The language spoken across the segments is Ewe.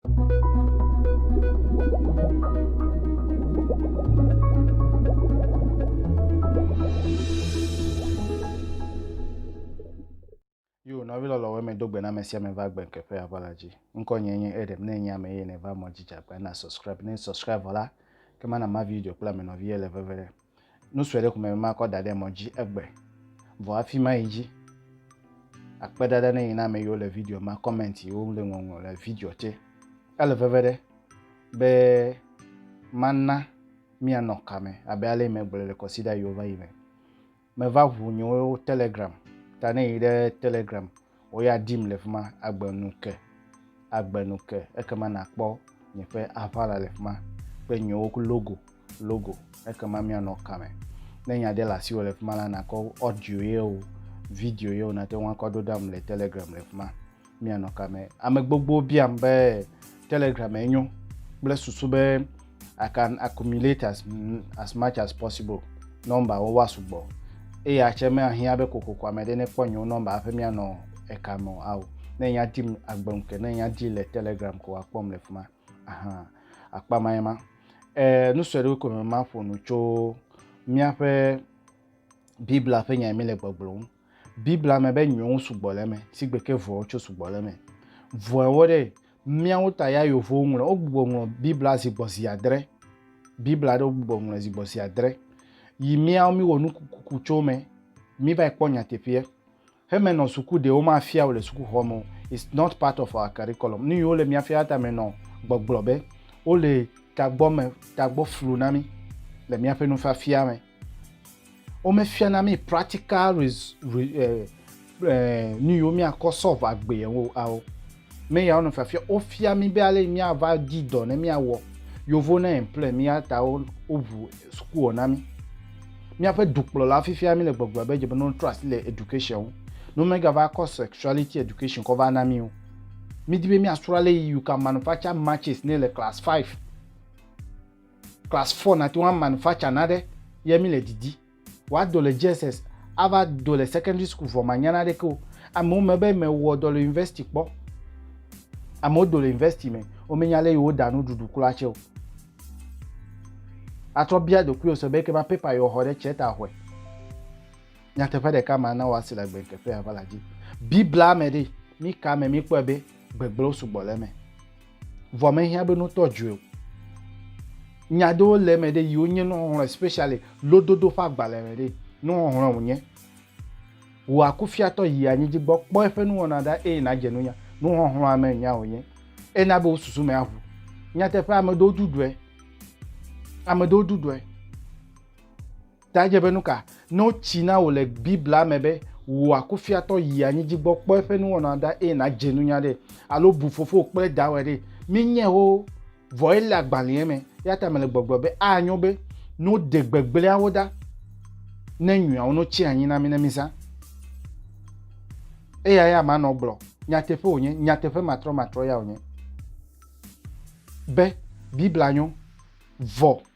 Yo, nɔvi lɔlɔ wɔme do gbe na ame sia ame va gbe ke ƒe aʋala dzi. Ŋkɔ nye nye Edem, ne nye ame ye ne va mɔ dzi dza gbe na subscribe, ne subscribe vɔ la, ke ma na ma video kple ame nɔvi ye le veve ɖe. Nu sue ɖe ko meme makɔ da ɖe mɔ dzi egbe. Vɔ afi ma yi dzi. Akpe ɖaɖa ne yi na ame yiwo le video ma comment yiwo ŋu le ŋɔŋlɔ le video tse. Ele veve ɖe be mana mianɔ ka me abe ale megblɔe le kɔsida yiwo va yi me. Meva ʋu nyewo telegram ta ne yi ɖe telegram Wò ya dim le fi ma agbe nu ke, agbe nu ke. Ekema nàkpɔ nye ƒe aʋala le fi ma kple nyewo ku logo, logo. Ekema míanɔ ka me? Ne nya ɖe le asiwò le fi ma la, nàkɔ audio yeo, video yeo, nàte ŋu akɔ ɖo ɖam le Telegram le fi ma. Míanɔ ka me? Ame gbogbo biam be Telegram enyo kple susu be I can accumulate as, as much as possible nɔmbawo woasugbɔ eye atse mehiã be kokoko ame ɖe nekpɔ nyewo nɔmba hafi mianɔ eka me o ao ne nya dim agbe ŋu ke ne nya di le telegram ko akpɔm le fi ma ahan akpa ma ye ma e, nu sue ɖewo ko me maƒo nu tso míaƒe biblia ƒe nya mi le gbɔgblɔ ŋu Biblia me be nyɔwo sugbɔ le eme, si gbe ke vɔwo tso sugbɔ le eme. Vɔewo ɖe, míawo ta ya yovowo ŋlɔ, wogbugbɔ ŋlɔ Biblia zi gbɔ zi adre. Biblia ɖe wogbugbɔ ŋlɔe zi gbɔ zi adre. Yi míawo míwɔ nukukuku tso eme, mívae kpɔ nyateƒeɛ. Heme nɔ suku ɖe womafia wò le sukuxɔ me o. It's not part of our curriculum. Nu yi wole mía fia ta me nɔ gbɔgblɔ be wole tagbɔ me, tagbɔ flu na mí le míaƒe nufiafia me. Womefiana mí practical res, re, eh, eh, nu yiwo míakɔ sɔlve agbee o ao. Me yawo nɔ fiafia wofia mí be ale yi míava di dɔ ne míawɔ. Yevuwo ne implɔe mí ya ta wo woŋu sukuwɔ na mí. Míaƒe dukplɔla fifia míle gbɔgblɔ be dze be ne wotrɔ asi le education ŋu. Ne womegava kɔ sexuality education kɔ va na mí o. Mídi be míasrɔ̃ ale yi you can manufacture matches ne le class five. Class four nate ŋu amanufacture naɖe ye mi le didi. Wòado le JSS ava do le secondary school vɔ manya naɖeke o. Amewo me be mewɔ dɔ le university kpɔ. Amewo do le university me womenya ale yi woda nuɖuɖu kura tse o. Atrɔ bia ɖokuiwò se be eke ma paper yi woxɔ ɖe tse ta hɔe. Nyateƒe ɖeka ma na woasi le gbenkekea va la dzi. Biblia me ɖe mi ka me mi kpɔe be gbegblẽwo sugbɔ le eme? vɔ mehiã be notɔ dzoe o nya ɖewo le eme ɖe yiwo nye nuxɔxlɔ especially lododo ƒe agbalẽ me ɖe nuxɔxlɔ wònye wò akufiatɔ yi anyi dzi gbɔ kpɔ eƒe nuwɔna ɖa eye nàdze nunya nuxɔxlɔa me nya wònye ena be wò susu me aʋu nyateƒe ame ɖewo ɖuɖɔe ame ɖewo ɖuɖɔe Ta dze be nu ka? Ne wotsi na wò le Biblia me be wò akufiatɔ yi anyi dzi gbɔ kpɔ eƒe nuwɔna ɖa eye nàdze nunya ɖe, alo bu fofowò kple dawòe ɖe, menyae o, vɔ ele agbalẽa me. Eya ta mele gbɔgblɔm be anyo be ne woɖe gbegblẽawo ɖa ne nyuiawo no tsi anyi na mí ne mízã. Eya ya manɔ gblɔ. Nyateƒe wònye, nyateƒe matrɔmatrɔ ya wònye be Biblia nyo, vɔ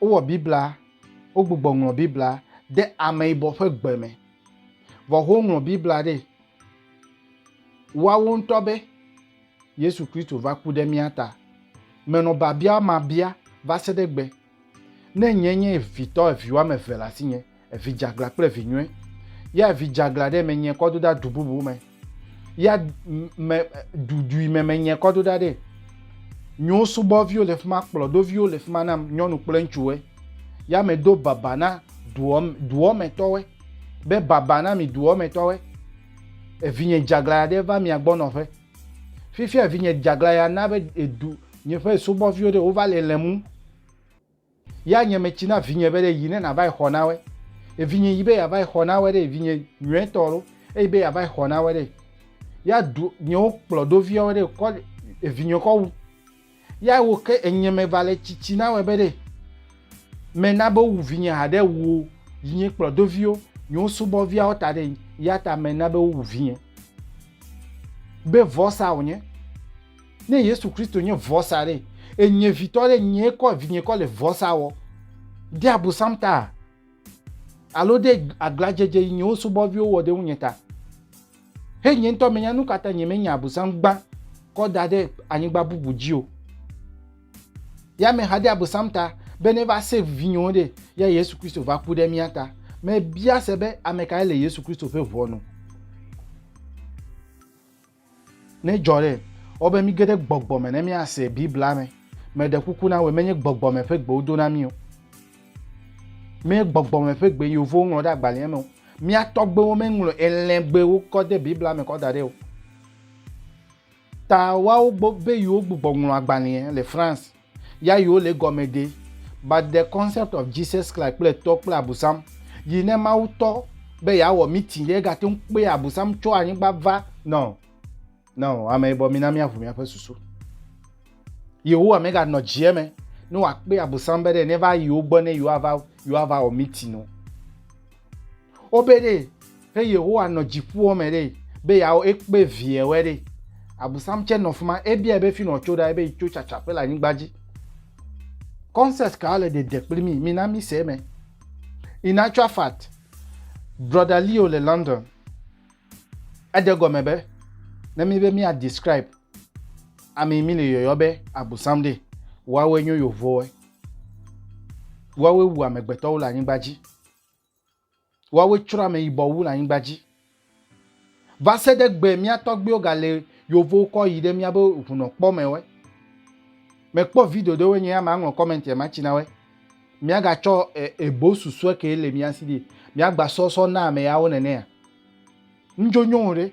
Wowɔ Biblia, wogbugbɔ ŋlɔ Biblia de ameyibɔ ƒe gbe me. Vɔ woŋlɔ Biblia ɖe woawo ŋutɔ be Yesu Kristo va ku ɖe mía ta. Menɔ biabia ma bia va se ɖe gbe, Ne nye nye vitɔ evi woame eve le asinye, Evi dzeaglã kple vi nyuie. Ya vi dzeaglã ɖe menye kɔ do ɖa du bubu me. Ya me dudui me menye kɔ do ɖa ɖe. Nyo subɔviwo le fi ma, kplɔdoviwo le fi ma nam, nyɔnu kple ŋutsuwe. Ya medo baba na duɔ, duɔ me tɔwe. Be baba na mi duɔ me tɔwe. Evinye dzeaglã ya ɖe va mia gbɔ nɔƒe. Fifia evinye dzeaglã ya na be edu nye ƒe subɔviwo ɖe wova le lem ŋu. Ya nye metsi na vinye be ɖe yi ne nava yi xɔ na we. Evinye yi be yava yi xɔ na we ɖe evinye nyuie tɔ ɖo. Eyi be yava yi xɔ na we ɖe. Ya du nyewo kplɔ do viɔ we ɖe kɔ evinye kɔ wu. Ya wo ke enye me va le tsitsi na we be ɖe me na be wu vinye ha ɖe wu yi nye kplɔ do viwo nyewo subɔ viawo ta ɖe ya ta me na be wu vinye be vɔ sa wonye. Ne Yesu Kristo nye vɔsa ɖe, enye vitɔ ɖe nye kɔ vinye kɔ le vɔsa wɔ. De abusam ta alo de agladzedze yi nyewo subɔviwo wɔ ɖe ŋunye ta. He nye ŋutɔ menya nu katã nye menya abusam gbã kɔ da ɖe anyigba bubu dzi o. Ya me ha de abusam ta be ne va save vinyewo ɖe ya Yesu Kristo va ku ɖe mía ta. Mebia se be ame kae le Yesu Kristo ƒe ʋɔnu? Ne dzɔ ɖe, ewɔ be míge ɖe gbɔgbɔ me ne míase Biblia me. Meɖe kuku na wòe, menye gbɔgbɔ me ƒe gbe wodo na mí o. Menye gbɔgbɔ me ƒe gbe yevuwo ŋlɔ ɖe agbalẽa me o. Mía tɔgbuiwo meŋlɔ elẽgbewo kɔ de Biblia me kɔ da ɖɛ o. Ta woawo gbɔ be yewo gbugbɔ ŋlɔ agbalẽa le France. Ya yiwo le egɔme ɖe? But the concept of Jesus Christ kple tɔ kple abusam yi ne Mawu tɔ be yeawɔ meeting ɖe egate ŋu kpe abusam tso anyigba va no no ame yibɔ mina míaʋu míaƒe susu. Yehowa meganɔ dzie me ne wòakpe abusam be ɖe neva yi wo gbɔ ne yewoava yewoava wɔ meeting o. Wobe ɖe Ke Yehowa nɔ dziƒoɔ me ɖe, be yeawɔ ekpe viɛwɛ ɖe. Abusam tsɛ nɔ fima, ebiaɛ be finɔ tso ɖa, ebe yitso tsatsaƒe le anyigba dzi. Concept ka le ɖeɖe kpli mí? Mina míse eme. In actual fact, Brɔda Leo le London, eɖe gɔme be, ne míbe mía describe amɛ mí le yɔyɔ be abusam ɖe, woawoe nyo yovowoe. Woawoe wu amegbetɔwo le anyigba dzi. Woawoe tsrɔ̃ ameyibɔ wu le anyigba dzi. Va se ɖe gbe mía tɔgbuiwo galé yovowo kɔ yi ɖe mía be ŋunɔ kpɔ me wɛ. Me kpɔ video ɖe wɛ nye ya ma ŋlɔ comment ya ma tsi na wɛ. Mía ga tsɔ e, ebo susue ke le mía si ɖi. Mía gba sɔsɔ na ame yawo nenea. Ŋdzo nyɔwo ɖe.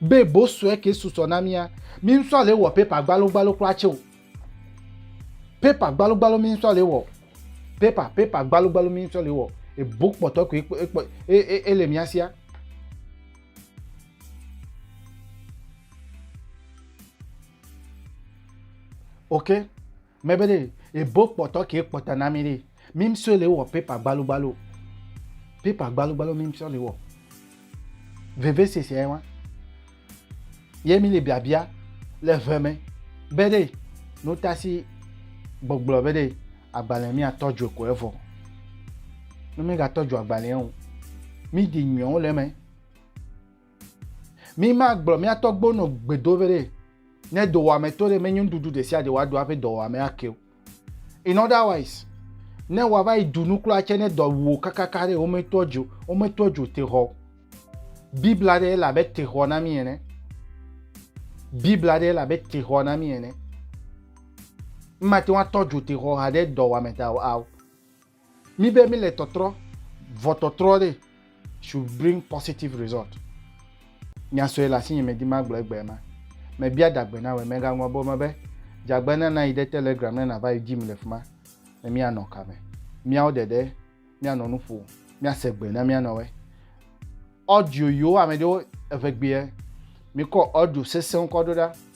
Be bo sue ke susɔ na mía, mi ŋsɔ ale wɔ paper gbalo gbalo kura tse o. Paper gbalo gbalo mi ŋsɔ ale wɔ. Paper paper gbalo gbalo mi ŋsɔ ale wɔ. Ebo kpɔtɔ koe ekpɔ e e ele mía sia. Okay. Mɛ be ɖe ebo kpɔtɔ ke kpɔtɔ na mi ɖe. Mi msɔ le wɔ paper gbalo gbalo. Paper gbalo gbalo mi msɔ le wɔ. Veve sese ayi wa. Ye mi le biabia le ve me be ɖe no tasi gbɔgblɔ be ɖe agbalẽ mi atɔ jo ko evɔ. No mi ga tɔ jo agbalẽ o. Mi di nyɔwo le me. Mi ma gblɔ mia tɔgbo no gbedo vere ne dowame to ɖe menyo nuɖuɖu ɖe sia ɖe wa do aƒe dɔwame ake o. In other wise, ne wa va yi du nu kura tse ne dɔ wuo kakaka ɖe wome to djo, wome to djo te hɔ. Bibla ɖe la be te hɔ na mi ene. Bibla ɖe la be te hɔ na mi ene. Mma te wa tɔ djo te hɔ ha ɖe dɔwame ta o. Mi be mi le tɔtrɔ, vɔ tɔtrɔ ɖe should bring positive result. Nya sue le asinye medi magblɔ egbea ma. Mebia dagbe na wòe megaŋlɔ be wome be, Dzagbe na nayi ɖe Telegram ne nàva yi dim le fi ma. Ne míanɔ ka me? Míawo ɖeɖe míanɔ nu ƒo, míase gbe ne míanɔ we. Audio yiwo ame ɖewo eve gbea, mikɔ audio sesẽwo kɔ ɖo ɖa.